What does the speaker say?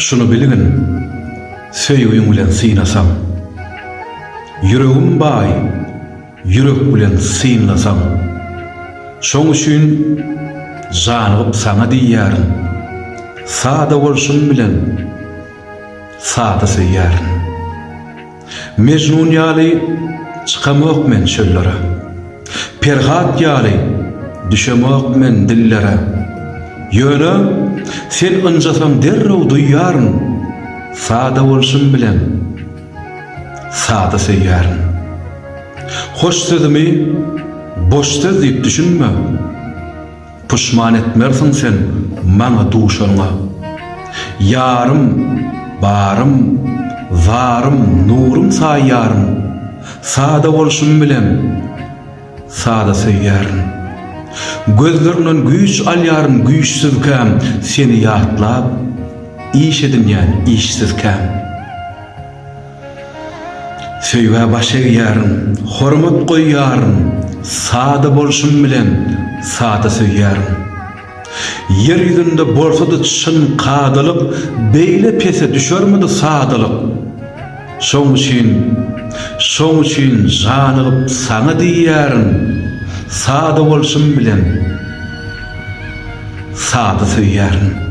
Şuny bilgin, söýgiň bilen synasaň. Ýüregim baý, ýürek bilen synlasaň. Şoň üçin janygyp saňa diýýärin, Sada bolşuň bilen sada söýýärin. Mejnun ýaly çykamok men çöllere, Perhat ýaly düşemok men dillere, Ýöne sen ynjasaň derrew duýýaryn, Sada bolşum bilen sada söýýärin. Hoş sözümi boş söz diýip düşünme. Puşman etmersiň sen maňa duşanyňa. Ýarym, barym, zarym, nurym saýýaryn. Sada bolşum bilen sada söýýärin. Gözleriňden güýç alýaryn güýçsüzkäm seni ýatlap, iş edinýän işsizkäm. Söýgä baş egýärin, hormat goýýaryn, sada bolşum bilen sada söýýärin. Ýer ýüzünde bolsady çyn kadalyk beýle pese düşermidi sadalyk. Şoň üçin, şoň üçin žanygyp saňa diýýärin, sada bolşum bilen sada söýýärin.